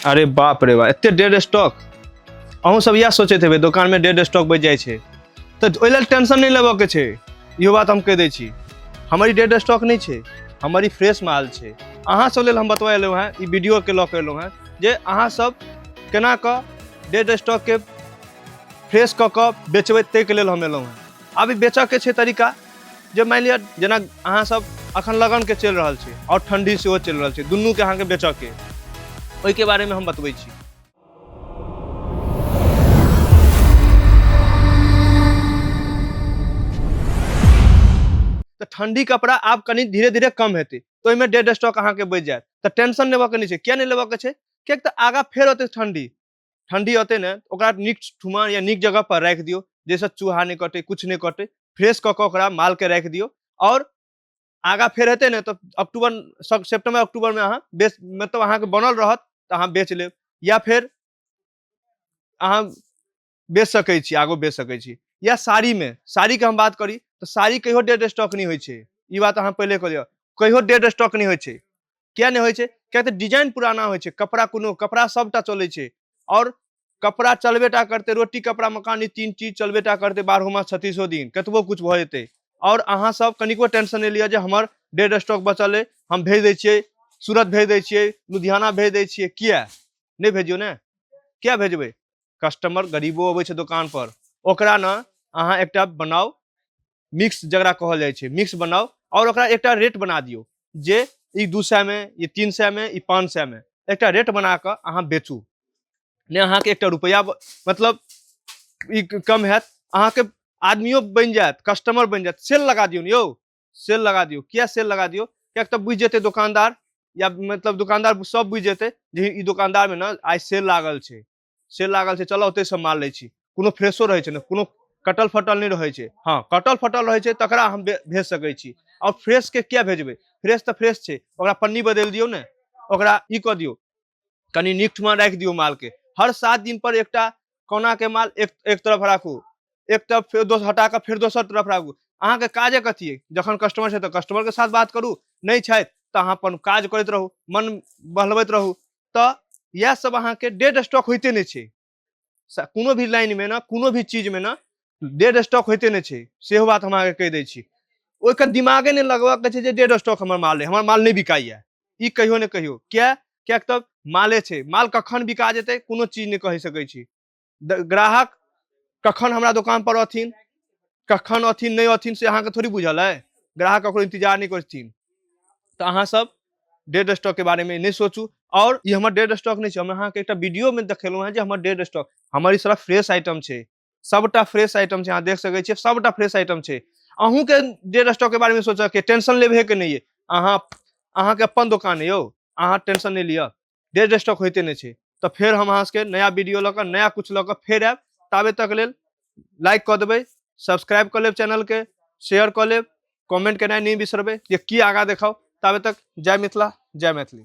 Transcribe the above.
अरे बाप रे बा एते डेड स्टॉक अहूँ सब इएह सोचैत हेबै दोकानमे डेड स्टॉक बचि जाइ छै तऽ ओहि लेल टेंशन नहि लेबऽके छै इहो बात हम कहि दै छी हमर ई डेड स्टॉक नहि छै हमर ई फ्रेश माल छै अहाँ सब लेल हम बतबा एलहुँ हेँ ई वीडियोके लऽ कऽ एलहुँ हेँ जे अहाँ सब केना कऽ डेड स्टॉकके फ्रेश कऽ कऽ बेचबै ताहिके लेल हम एलहुँ हेँ आब ई बेचऽके छै तरीका जे मानि लिअ जेना अहाँ सब अखन लगन के चलि रहल छै और ठंडी सेहो चलि रहल छै दुनू के अहाँ के बेचऽ के ओहि के बारे में हम बतबै छी तऽ ठंडी कपड़ा आब कनि धीरे धीरे कम हेतै तऽ ओहिमे डेड स्टॉक अहाँके बचि जायत तऽ टेंशन लेबऽ के नहि छै किया नहि लेबऽ के छै किएक तऽ आगाँ फेर होतै ठंडी ठंडी अते ने ओकरा नीक ठुमा या नीक जगह पर राखि दियो जैसे चूहा नहीं कटे कुछ नहीं कटे फ्रेश कऽ कऽ ओकरा मालके राखि दियौ आओर आगाँ फेर हेतै ने तऽ अक्टूबर सेप्टेम्बर अक्टूबरमे अहाँ बेच मतलब अहाँके बनल रहत तऽ अहाँ बेच लेब या फेर अहाँ बेच सकै छी आगो बेच सकै छी या साड़ीमे साड़ीके हम बात करी तऽ साड़ी कहियो डेड स्टॉक नहि होइ छै ई बात अहाँ पहिले कऽ लिअ कहियो डेड स्टॉक नहि होइ छै किया नहि होइत छै किया तऽ डिजाइन पुराना होइत छै कपड़ा कोनो कपड़ा सभटा चलैत छै आओर कपड़ा चलबेटा करते रोटी कपड़ा मकान ई तीन चीज चलबेटा करते बारहो मास छत्तीसो दिन कतबो कुछ भऽ जेतै आओर अहाँ सब कनिको टेंशन नहि लिअ जे हमर डेड स्टॉक बचल अइ हम भेज दै छियै सूरत भेज दै छियै लुधियाना भेज दै छियै किया नहि भेजियो ने किया भेजबै कस्टमर गरीबो अबै छै दोकान पर ओकरा ने अहाँ एकटा बनाउ मिक्स जकरा कहल जाइ छै मिक्स बनाउ आओर ओकरा एकटा रेट बना दियौ जे ई दू सएमे ई तीन सएमे ई पाँच सएमे एकटा रेट बना कऽ अहाँ बेचू नहि अहाँके एकटा रुपैआ मतलब ई कम हैत अहाँके आदमियो बनि जायत कस्टमर बनि जायत सेल लगा दियौ ने यौ सेल लगा दियौ किया सेल लगा दियौ किएक तऽ बुझि जेतै दोकानदार या मतलब दोकानदार सब बुझि जेतै जे ई दोकानदारमे ने आइ सेल लागल छै से लागल छै चलऽ ओतहिसँ माल लै छी कोनो फ्रेशो रहै छै ने कोनो कटल फटल नहि रहै छै हँ कटल फटल रहै छै तकरा हम भे- भेज सकै छी आओर फ्रेशके किया भेजबै फ्रेश तऽ फ्रेश छै ओकरा पन्नी बदलि दियौ ने ओकरा ई कऽ दियौ कनि नीक ठमा राखि दियौ मालके हर सात दिन पर एकटा कोनाके माल एक एक तरफ राखू एक तरफ फेर दोसर हटा कऽ फेर दोसर तरफ राखू अहाँके काजे कथी अइ जखन कस्टमर छै तऽ कस्टमरके साथ बात करू नहि छथि तऽ अहाँ अपन काज करैत रहू मन बहलबैत रहू तऽ इएह सब अहाँके डेड स्टॉक होइते नहि छै स- कोनो भी लाइनमे ने कोनो भी चीजमे ने डेड स्टॉक होइते नहि छै सेहो बात हम अहाँके कहि दै छी ओहिके दिमागे नहि लगबऽके छै जे डेड स्टॉक हमर माल अइ हमर माल नहि बिकाइए ई कहियो ने कहियो किया किएक तऽ माले छै माल कखन बिका जेतै कोनो चीज नहि कहि सकै छी द- ग्राहक कखन हमरा दोकान पर अथिन कखन अथिन नहि अथिन से अहाँके थोड़ी बुझल है ग्राहक ककरो इंतजार नहि करथिन तऽ अहाँ सब डेड स्टॉक के बारे में नहि सोचू और ई हमर डेड स्टॉक नहि छै हम अहाँके एकटा वीडियो में देखेलहुँ हैं जे हमर डेड स्टॉक हमर ई सारा फ्रेश आइटम छै सबटा फ्रेश आइटम छै अहाँ देख सकै छियै सबटा फ्रेश आइटम छै अहूँके डेड स्टॉक के बारे में सोचऽ के टेंशन लेबहे के नहि अइ अहाँ अहाँके अपन दोकान अइ यौ अहाँ टेंशन नहि लिअ डेड स्टॉक होते नहीं है तो फिर हम अहाँ सबके नया वीडियो लऽ कऽ नया कुछ लऽ कऽ फेर आयब ताबे तक लेल लाइक कऽ देबै सब्सक्राइब कऽ लेब चैनलके शेयर कऽ लेब कमेंट केनाइ नहि बिसरबै जे की आगाँ देखाउ ताबे तक जय मिथिला जय मैथिली